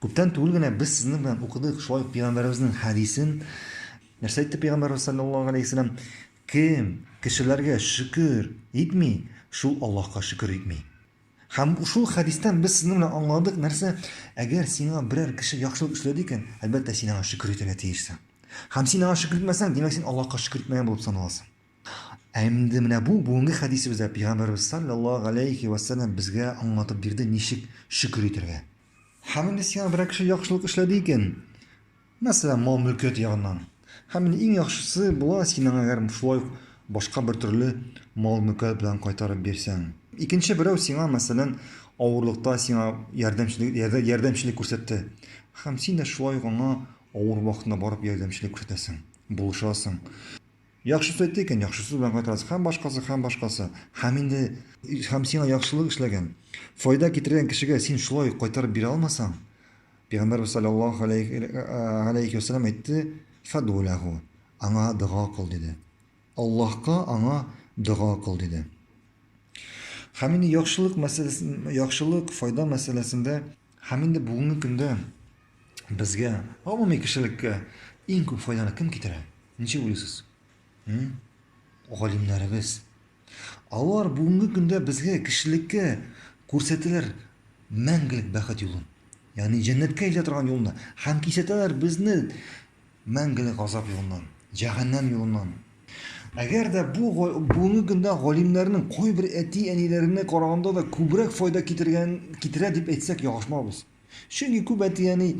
Күптән түгел генә без сезнең белән укыдык шулай ук пигамбәребезнең хәдисен. Нәрсә әйтте пигамбәребез саллаллаһу алейһи вәсәлләм? Кем кешеләргә шөкер итми, шул Аллаһка шөкер итми. Һәм шул хәдистән без сезнең белән аңладык нәрсә? Әгәр сиңа берәр кеше яхшылык эшләде икән, әлбәттә син аңа шөкер итәргә тиешсең. Һәм син аңа шөкер итмәсәң, димәк син Аллаһка шөкер итмәгән булып саналасың. Ә инде менә бу бүгенге хәдисебездә Пәйгамбәребез салләллаһу галәйһи вә сәлләм безгә аңлатып бирде, ничек шөкер итәргә. Һәм инде сиңа берәр кеше яхшылык эшләде икән, мәсәлән, мал-мөлкәт ягыннан, һәм инде иң яхшысы була син аңа әгәр шулай ук башка бер төрле мал-мөлкәт белән кайтарып бирсәң. Икенче берәү сиңа, мәсәлән, авырлыкта сиңа ярдәмчелек ярдәмчелек күрсәтте, һәм син дә шулай ук аңа авыр вакытында барып ярдәмчелек күрсәтәсең, булышасың. Яхшысы әйтте икән, яхшысы белән кайтарасың, һәм башкасы, һәм башкасы. Һәм инде, һәм сиңа яхшылык эшләгән, файда китергән кешегә син шулай ук кайтарып бирә алмасаң, пигамбәрбез салләллаһу галәйһи ва сәлләм әйтте, Фәдгу ләһу, аңа дога кыл, диде. Аллаһка аңа дога кыл, диде. Һәм инде яхшылык мәсьәләсен, яхшылык, файда мәсьәләсендә, Һәм инде бүгенге көндә безгә, гомуми кешелеккә иң күп файданы кем китерә? Ничек уйлыйсыз? Галимнәребез. Алар бүгенге көндә безгә кешелеккә күрсәтәләр мәңгелек бәхет юлын. Ягъни җәннәткә илтә торган юлны һәм кисәтәләр безне мәңгелек газап юлыннан, җәһәннәм юлыннан. Әгәр дә бу бүгенге көндә галимнәрнең кайбер әти-әниләренә караганда да күбрәк файда китергән китерә дип әйтсәк ялгышмабыз. Чөнки күп әти-әни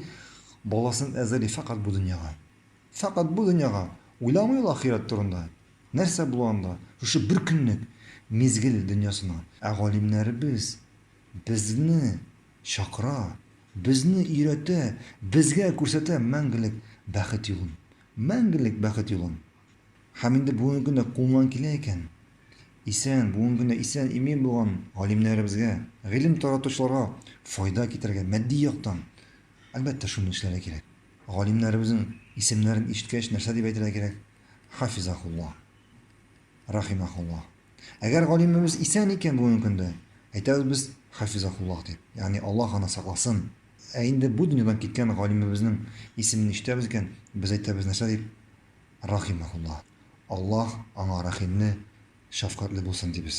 баласын әзерли фәкать бу дөньяга. Фәкать бу дөньяга. Уйламый ул ахирәт турында. Нәрсә була анда? Шушы бер көнлек мизгел дөньясына. Ә галимнәребез безне Чакыра, безне өйрәтә, безгә күрсәтә мәңгелек бәхет юлын. Мәңгелек бәхет юлын! Һәм инде бүгенге көндә кулыннан килә икән. Исән, бүгенге көндә исән-имин булган галимнәребезгә, гыйлем таратучыларга файда китерергә, матди яктан, әлбәттә, шуны эшләргә кирәк. Галимнәребезнең исемнәрен ишеткәч, нәрсә дип әйтергә кирәк? Хафизаһулла. рахимахуллаһ. Әгәр галимебез исән икән бүгенге көндә, әйтәбез без хафизахуллаһ дип, ягъни Аллаһ аны сакласын. Ә инде бу дөньядан киткән галимебезнең исемен ишетәбез икән, без әйтәбез нәрсә дип? Рахимахуллаһ. Аллаһ аңа рәхимле, шәфкатьле булсын дибез.